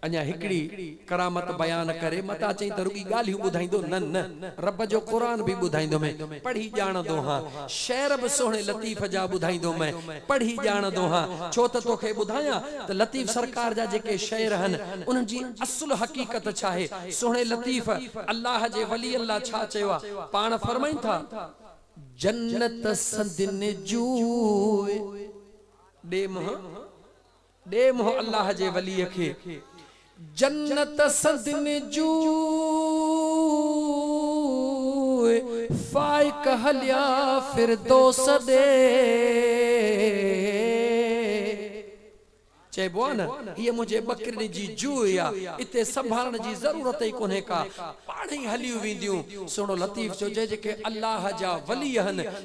اڃا هڪڙي ڪرامت بيان ڪري متان چئين ته رڳي ڳالهيون ٻڌائيندو نه نه رب جو قرآن به ٻڌائيندومين پڙهي ڄاڻندو هان شعر به سهڻي لطيف جا ٻڌائيندو مين پڙهي ڄاڻندو هان ڇو ته توکي ٻڌايان ته لطيف سرڪار جا جيڪي شعر هن انهن جي اصل حقيقت ڇاهي سهڻي لطيف الله جي ولين لا ڇا چيو آ پاڻ فرمائن ٿا. جنت سندين جوء ڏي منهن. ڏي منهن الله جي وليء کي. جنت سندن جوء فائق هليا فردوس ڏي. چئبو آهي نه هيء منهنجي ٻڪرين جي جوء آ، اتي سنڀالڻ جي ضرورت ئي ڪونهي ڪا، پاڻهئي هليون وينديون. سهڻو لطيف چيو جي جيڪي الله جا ولي آهن،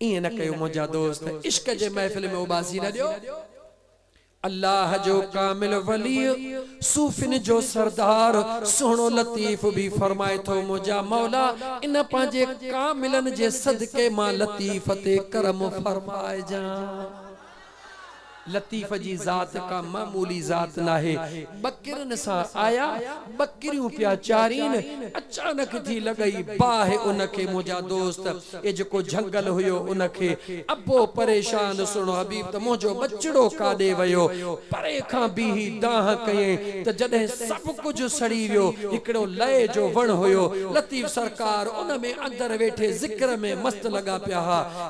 ائين نه ڪيو منهنجا دوست، عشق جي محفل ۾ اوٻاسي نه ڏيو. الله جو ڪامل ولي، صوفين جو سردار سهڻو لطيف به فرمائي ٿو منهنجا مولا ان پنهنجي ڪاملن جي صدقي مان لطيف تي ڪرم فرمائجان. لطيف جي ذات ڪا معمولي ذات ناهي. ٻڪرين سان آيا، ٻڪريون پيا چارين، اچانڪ ٿي لڳئي باهه ان کي منهنجا دوست، اي جيڪو جهنگل هيو ان کي، ابو پريشان سهڻو حبيب ته منهنجو ٻچڙو ڪاڏي ويو؟ پري کان بيهي دانهن ڪيائين ته جڏهن سڀ ڪجهه سڙي ويو، هڪڙو لئي جو وڻ هيو، لطيف سرڪار ان ۾ اندر ويٺي ذڪر ۾ مست لڳا پيا ها.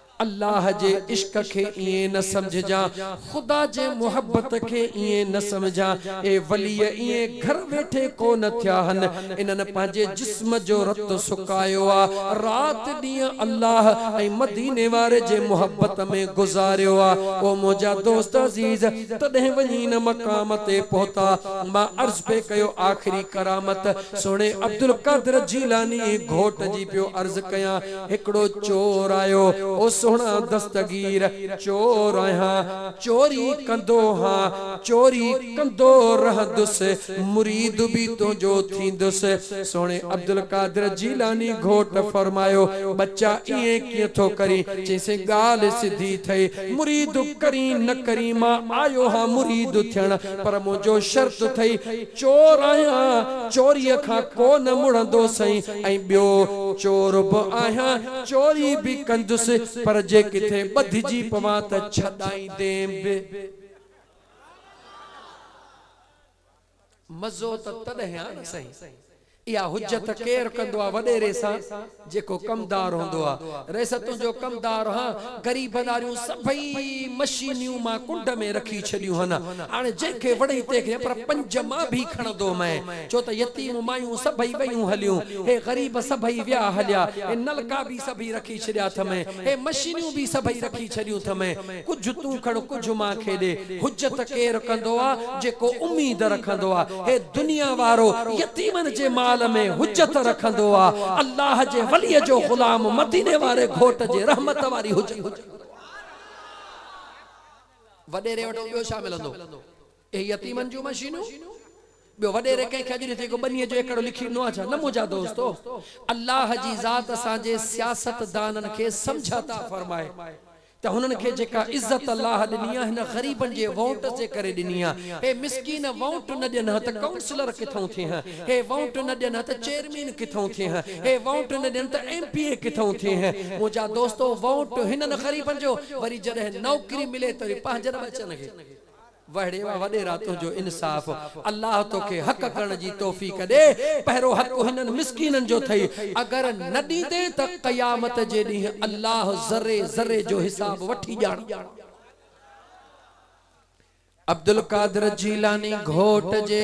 الله جي عشق کي ائين نه سمجهجان، خدا جي محبت کي ائين نه سمجهان، اهي وليء ائين گهر ويٺي ڪو نه ٿيا هن، انهن پنهنجي جسم جو رت سڪايو آ، رات ڏينهن الله ۽ مديني واري جي محبت ۾ گذاريو آ، او منهنجا دوست عزيز! تڏهن وڃي ان مقام تي پهتا، مان عرض پئي ڪيو آخري ڪرامت سهڻي عبدالقادر جيلاني گهوٽ جي پيو عرض ڪيان، هڪڙو چور آيو، او سهڻا دستگير، چور آهيان، چوري ڪندو ها، چوري ڪندو رهندس، مريد به تنهنجو ٿيندس. سهڻي عبدالقادر جيلاني گهوٽ فرمايو، ٻچا ائين ڪيئن ٿو ڪرين؟ چيسين ڳالهه سڌي ٿئي، مريد ڪرين نه ڪرين، مان آيو ها مريد ٿيڻ، پر منهنجو شرط ٿئي، چور آهيان چوريء کان ڪو نه مڙندو سائين ۽ ٻيو چور به آهيان چوري به ڪندس پر جي ڪٿي ٻڌجي پوان ته ڇڏائيندين به. مزو ته تڏهن آ نه سائين. اها حجت ڪير ڪندو آ وڏيري سان جيڪو ڪمدار هوندو آ رئيس تنهنجو ڪمدار هان غريبن آريون سڀئي مشينيون مان ڪنڊ ۾ رکي ڇڏيون هن هاڻي جنهن کي وڻئي تنهن کي پر پنج مان ڀي کڻندو مئي ڇو ته يتيم مايون سڀئي ويون هليون هي غريب سڀئي ويا هليا هي نلڪا ڀي سڀئي رکي ڇڏيا ٿمئي هي مشينيون ڀي سڀئي رکي ڇڏيون ٿمئي ڪجهه تون کڻ ڪجهه مان کي ڏي. حجت ڪير ڪندو آ جيڪو اميد رکندو آ. هي دنيا وارو يتيمن جي مال ۾ حجت رکندو آ. الله جي ولي جو غلام مديني واري گهوٽ جي رحمت واري حجت رکندو آ. وڏيري وٽ ٻيو ڇا ملندو؟ اهي يتيمن جون مشينون؟ ٻيو وڏيري ڪنهن کي اڄ ڏٺئي ڪو ٻنيء جو ايڪڙو لکي ڏنو آهي ڇا؟ نه منهنجا دوستو! الله جي ذات اسان جي سياستدانن کي سمجهه عطا فرمائي ته هنن کي جيڪا عزت الله ڏني آهي هن غريبن جي وونٽس جي ڪري ڏني آهي. هي مسڪين وونٽ نه ڏين ها ته ڪائونسلر ڪٿئون ٿئين ها؟ هي وونٽ نه ڏين ها ته چيئرمين ڪٿئون ٿئين ها؟ هي وونٽ نه ڏين ته ايم پي اي ڪٿئون ٿئين ها؟ منهنجا دوستو! وونٽ هنن غريبن جو وري جڏهن نوڪري ملي ته وري پنهنجن ٻچن کي وهڙي واه وڏيرا تنهنجو انصاف الله توکي حق ڪرڻ جي توفيق ڏي پهرو حق هنن مسڪينن جو ٿئي اگر نه ڏيندين ته قيامت جي ڏينهن الله ذري ذري جو حساب وٺي ڄاڻ. عبدالقادر جيلاني گهوٽ جي.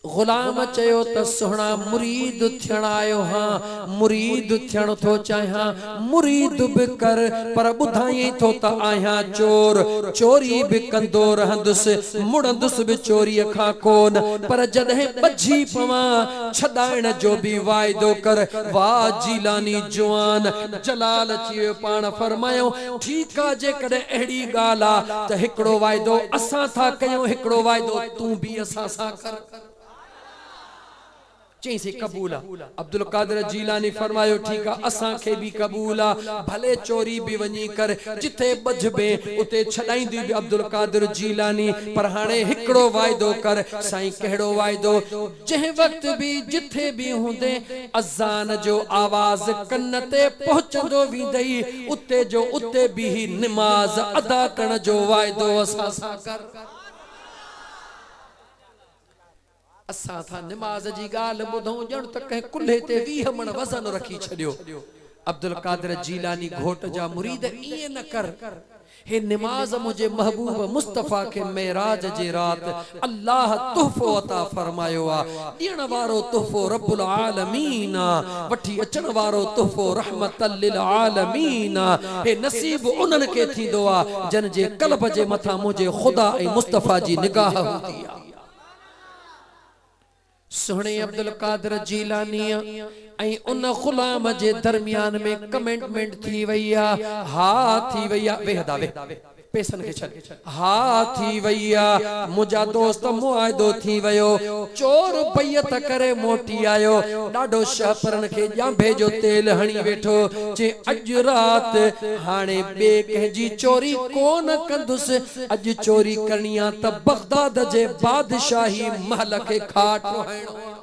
غلام چيو ته سهڻا مريد ٿيڻ آيو هان، مريد ٿيڻ ٿو چاهيان، مريد به ڪر، پر ٻڌايئين ٿو ته آهيان چور، چوري به ڪندو رهندس، مڙندس به چوريء کان ڪونه، پر جڏهن ٻجهي پوان، ڇڏائڻ جو به واعدو ڪر، واه جيلاني جوان! جلال اچي ويو پاڻ فرمايائون، ٺيڪ آ، جيڪڏهن اهڙي ڳالهه آ ته هڪڙو واعدو اسان ٿا ڪيون، هڪڙو واعدو. تون به اسان سان ڪر. چئين سي قبول آ. عبدالقادر جيلاني فرمايو ٺيڪ آ اسان کي به قبول آ ڀلي چوري به وڃي ڪر جتي ٻڌبين اتي ڇڏائيندين به عبدالقادر جيلاني پر هاڻي هڪڙو واعدو ڪر سائين ڪهڙو واعدو جنهن وقت به جٿي به هوندين اذان جو آواز ڪن تي پهچندو ويندئي اتي جو اتي بيهي نماز ادا ڪرڻ جو واعدو اسان سان ڪر. اسان ٿا نماز جي ڳالهه ٻڌون ڄڻ ته ڪنهن ڪلهي تي ويهه مڻ وزن رکي ڇڏيو. عبدالقادر جيلاني گهوٽ جا مريد ائين نه ڪر. هي نماز منهنجي محبوب مصطفيٰ کي معراج جي رات الله تحفو عطا فرمايو آ. ڏيڻ وارو تحفو رب العالمين آ، وٺي اچڻ وارو تحفو رحمة للعالمين آ، هي نصيب انهن کي ٿيندو آ، جن جي قلب جي مٿان منهنجي خدا ۽ مصطفيٰ جي نگاهه هوندي آ. سهڻي عبدالقادر جيلانيء ۽ ان غلام جي درميان ۾ ڪميٽمينٽ ٿي وئي آ، ها ٿي وئي آ، ويهه ادا ويهه. پيسن کي ڇڏ. ها ٿي وئي آ. منهنجا دوست معاهدو ٿي ويو. چور بيعت ڪري موٽي آيو. ڏاڍو شهپرن کي ڄانڀي جو تيل هڻي ويٺو. چي اڄ رات هاڻي ٻي ڪنهن جي چوري ڪو نه ڪندس. اڄ چوري ڪرڻي آ ته بغداد جي بادشاهي محل کي کاٽ ٺوهائڻو آ.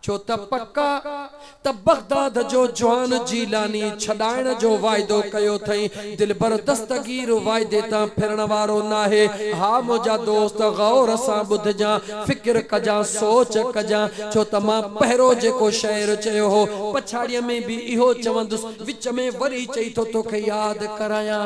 ڇو ته پڪ آ ته بغداد جو جوان جيلاني ڇڏائڻ جو واعدو ڪيو ٿئين، دلبر دستگير واعدي تان ڦرڻ وارو ناهي. ها منهنجا دوست غور سان ٻڌجان، فڪر ڪجان، سوچ ڪجان، ڇو ته مان پهرو جيڪو شعر چيو هو، پڇاڙيء ۾ به اهو چوندس، وچ ۾ وري چئي ٿو توکي ياد ڪرايان،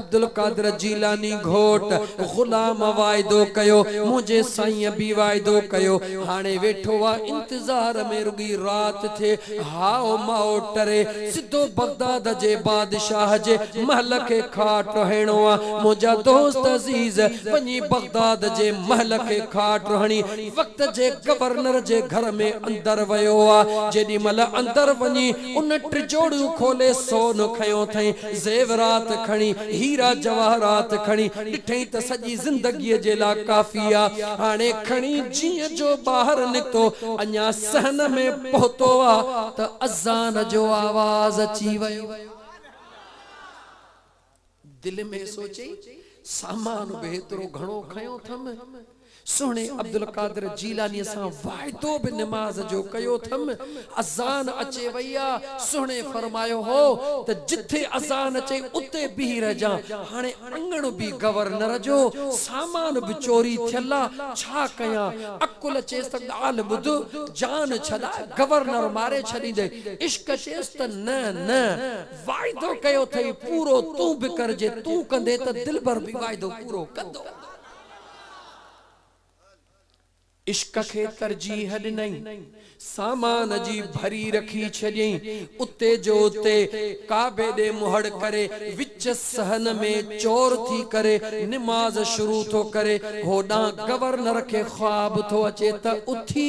عبدالقادر جيلاني گهوٽ غلام واعدو ڪيو منهنجي سائينء به واعدو ڪيو هاڻي ويٺو آ انتظار ۾ رڳي رات ٿئي هائو مائو ٽري سڌو بغداد جي بادشاهه جي محل کي کاٽ هڻڻو آ منهنجا دوست عزيز وڃي بغداد جي محل کي کاٽ هڻي وقت جي گورنر جي گهر ۾ اندر ويو آ جيڏي مهل اندر وڃي ان ٽجوڙيون کولي سون کنيو ٿئين، زيورات کڻي، هيرا جواهرات کڻي، ڏٺئين ته سڄي زندگيء جي لا ڪافي آ. هاڻي کڻي جيئن جو ٻاهر نڪتو، اڃا صحن ۾ پهتو آ ته اذان جو آواز اچي ويو. دل ۾ سوچي سامان به ايترو گهڻو کنيو ٿم، سهڻي عبدالقادر جيلانيء سان واعدو به نماز جو ڪيو ٿم، اذان اچي وئي آ، سهڻي فرمايو هو ته جتي اذان اچي اتي بيهي رهجان، هاڻي اڱڻ به گورنر جو، سامان به چوري ٿيل آ، ڇا ڪيان؟ عقل چيس ته ڳالهه ٻڌ، جان ڇڏاء، گورنر ماري ڇڏيندين، عشق چيس ته نه نه، واعدو ڪيو اٿئي پورو تون به ڪر جي تون ڪندي ته دلبر به واعدو پورو ڪندو. عشق کي ترجيح ڏنئين سامان جي ڀري رکي ڇڏيئين اتي جو اتي ڪعبي ڏي منهڙ ڪري وچ صحن ۾ چور ٿي ڪري نماز شروع ٿو ڪري هوڏانهن گورنر کي خواب ٿو اچي ته اٿي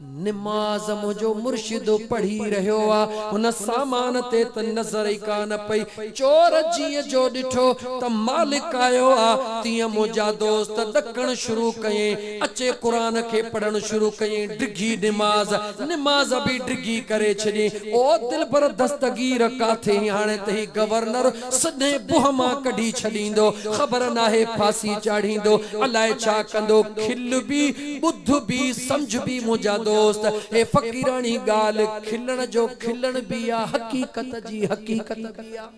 نماز منهنجو مرشد پڙهي رهيو آ، هن سامان تي ته نظر ئي ڪانه پئي، چور جيئن جو ڏٺو ته مالڪ آيو آ، تيئن منهنجا دوست ڏڪڻ شروع ڪيئين، اچي قرآن کي پڙهڻ شروع ڪيئين، ڊگهي نماز، نماز به ڊگهي ڪري ڇڏيئين، او دلبر دستگير ڪاٿي هين هاڻي ته هي گورنر سدي بوهه مان ڪڍي ڇڏيندو، خبر ناهي ڦاسي چاڙهيندو، الاء ڇا ڪندو، کل بي، ٻڌ بي، سمجهه بي منهنجا دوست، هي فقيراڻي ڳالهه، کلڻ جو کلڻ بي آ، حقيقت جي حقيقت بي آ.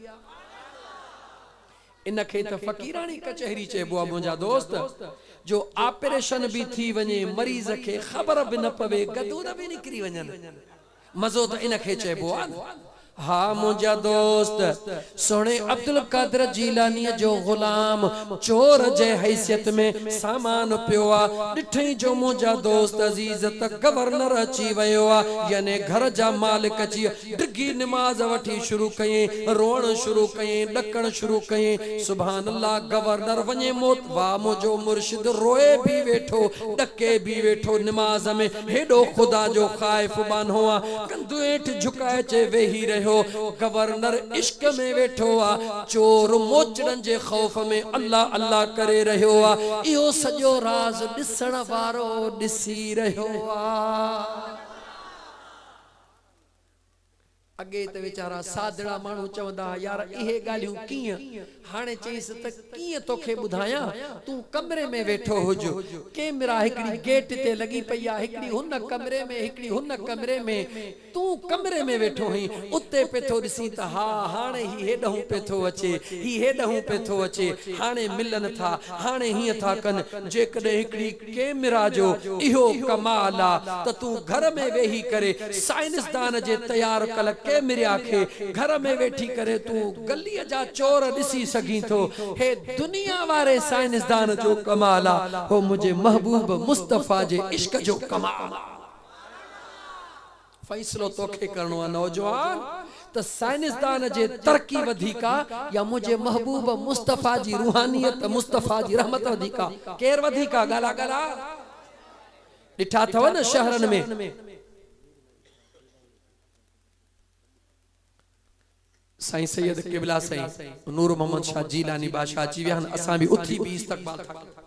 ان کي ته فقيراڻي ڪچهري چئبو آ منهنجا دوست، جو آپريشن بي ٿي وڃي، مريض کي خبر به نه پوي، گدود بي نڪري وڃن. مزو ته ان کي چئبو آ نه. ها منهنجا دوست، سهڻي عبدالقادر جيلانيء جو غلام چور جي حيثيت ۾ سامان پيو آ، ڏٺئين جو منهنجا دوست عزيز ته گورنر اچي ويو آ، يعني گهر جا مالڪ اچي ڊگهي نماز وٺي شروع ڪيائين، روئڻ شروع ڪيائين، ڏڪڻ شروع ڪيائين، سبحان الله گورنر وڃي موت، واھ منهنجو مرشد روئي به ويٺو، ڏڪي به ويٺو، نماز ۾ هيڏو خدا جو خائف ٻانهو آ، ڪنڌ هيٺ جهڪائي چي ويهي رهيو. گورنر عشق ۾ ويٺو آ، چور موچڙن جي خوف ۾ الله الله ڪري رهيو آ، اهو سڄو راز ڏسڻ وارو ڏسي رهيو آ. اڳي ته ويچارا سادڙا ماڻهو چوندا ها يار اهي ڳالهيون ڪيئن؟ هاڻي چئينس ته ڪيئن توکي ٻڌايان، تون ڪمري ۾ ويٺو هج. ڪيمرا هڪڙي گيٽ تي لڳي پئي آ، هڪڙي هن ڪمري ۾ هڪڙي هن ڪمري ۾، تون ڪمري ۾ ويٺو هئين، اتي پئي ٿو ڏسين ته ها هاڻي هي هيڏهون پئي ٿو اچي، هي هيڏهون پئي ٿو اچي، هاڻي ملن ٿا، هاڻي هيئن ٿا ڪن، جيڪڏهن هڪڙي. ڪيمرا جو اهو ڪمال آ ته تون گهر ۾ ويهي ڪري سائنسدان جي تيار ڪل ڪيمريا کي گهر ۾ ويٺي ڪري تون گلي جا چور ڏسي سگهين ٿو هي دنيا واري سائنسدان جو ڪمال آ هو منهنجي محبوب مصطفيٰ جي عشق جو ڪمال آ. فيصلو توکي ڪرڻو آ نوجوان ته سائنسدان جي ترقي وڌيڪ آ يا منهنجي محبوب مصطفيٰ جي روحانيت مصطفيٰ جي رحمت وڌيڪ آ ڪير وڌيڪ آ ڳالهه آ ڳالهه آ ڏٺا اٿو نه شهرن ۾ سائين سيد قبلا سائين نور محمد شاھ جيلاني بادشاھ اچي ويا آھن اسان به اٿي بيھي استقبال ٿا ڪريون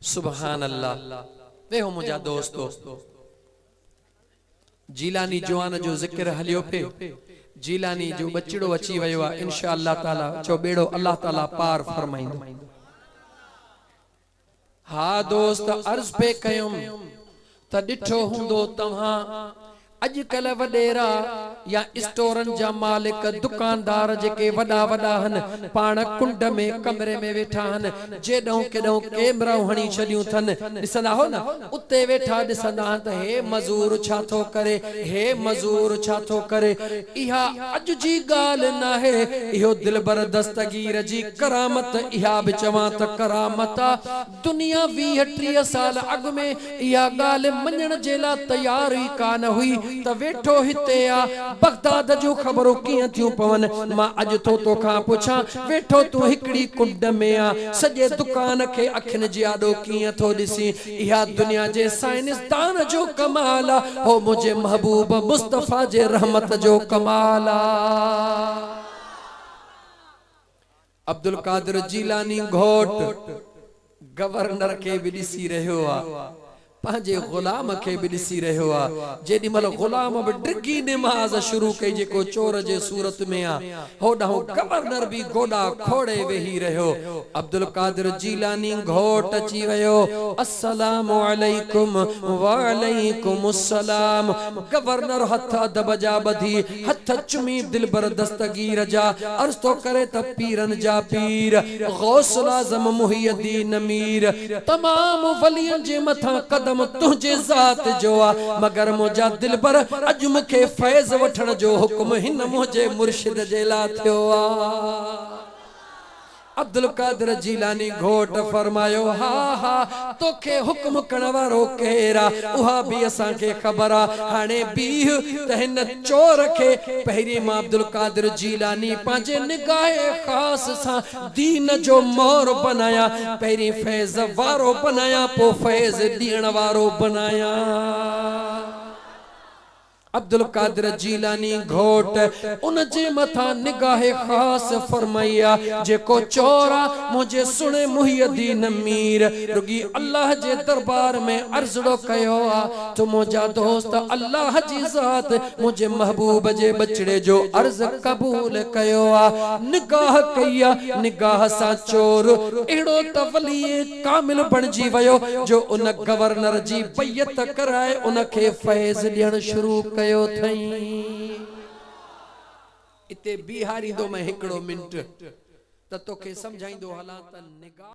سبحان الله اي هو منهنجا دوستو جيلاني جوان جو ذڪر هليو پئي جيلاني جو ٻچڙو اچي ويو آ انشاء الله تعالي چئو ٻيڙو الله تعالي پار فرمائيندو ها دوست عرض پئي ڪيم ته ڏٺو هوندو توهان اڄڪلهه وڏيرا يا اسٽورن جا مالڪ دڪاندار جيڪي وڏا وڏا هن پاڻ ڪنڊ ۾ ڪمري ۾ ويٺا هن جيڏهون ڪيڏهون ڪيمرائون هڻي ڇڏيون ٿن ڏسندا هو نه اتي ويٺا ڏسندا هن ته هي مزور ڇا ٿو ڪري هي مزور ڇا ٿو ڪري اها اڄ جي ڳالهه ناهي اهو دلبر دستگير جي ڪرامت اها به چوان ته ڪرامت آ دنيا ويهه ٽيهه سال اڳ ۾ اها ڳالهه مڃڻ جي لا تيار ئي ڪانه هئي ته ويٺو هتي آ، بغداد جون خبرون ڪيئن ٿيون پون. مان اڄ ٿو تو کان پڇان، ويٺو تون هڪڙي ڪنڊ ۾ آ، سڄي دڪان کي اکين جي آڏو ڪيئن ٿو ڏسين. اها دنيا جي سائنسدان جو ڪمال آ، هو منهنجي محبوب مصطفيٰ جي رحمت جو ڪمال آ. عبدالقادر جيلاني گهوٽ گورنر کي به ڏسي رهيو آ، پنهنجي غلام کي به ڏسي رهيو آ، جيڏي مهل غلام به ڊگهي نماز شروع ڪئي جيڪو چور جي صورت ۾ آ، هوڏانهن گورنر به گوڏا کوڙي ويهي رهيو، عبدالقادر جيلاني گهوٽ اچي ويو، السلام عليڪم، وعليڪم السلام، گورنر هٿ ادب جا ٻڌي، هٿ چمي دلبر دستگير جا عرض ٿو ڪري ته پيرن جا پير غوث الاعظم محي الدين مير تمام ولين جي مٿان قدم تنهنجي ذات جو آ مگر منهنجا دلبر اڄ مون کي فيض وٺڻ جو حڪم هن منهنجي مرشد جي لا ٿيو آ. عبدالقادر جيلاني گهوٽ فرمايو، ها ها، توکي حڪم ڪرڻ وارو ڪير آ، اها به اسان کي خبر آ، هاڻي بيهه ته هن چور کي پهرين مان عبدالقادر جيلاني پنهنجي نگاه خاص سان دين جو مور بنايان، پهرين فيض وارو بنايان، پوء فيض ڏيڻ وارو بنايان. عبدالقادر جيلاني گهوٽ ان جي مٿان نگاهه خاص فرمائي آ، جيڪو چور آ، منهنجي سهڻي محي الدين مير رڳي الله جي دربار ۾ عرضڙو ڪيو آ، ته منهنجا دوست الله جي ذات منهنجي محبوب جي ٻچڙي جو عرض قبول ڪيو آ، نگاهه ڪئي آ، نگاهه سان چور اهڙو ته ولي ڪامل بڻجي ويو جو ان گورنر جي بيعت ڪرائي ان کي فيض ڏيڻ شروع ڪيو ٿئين. اتي بيهاريندومئين هڪڙو منٽ ته توکي سمجهائيندو هلان ته نگار.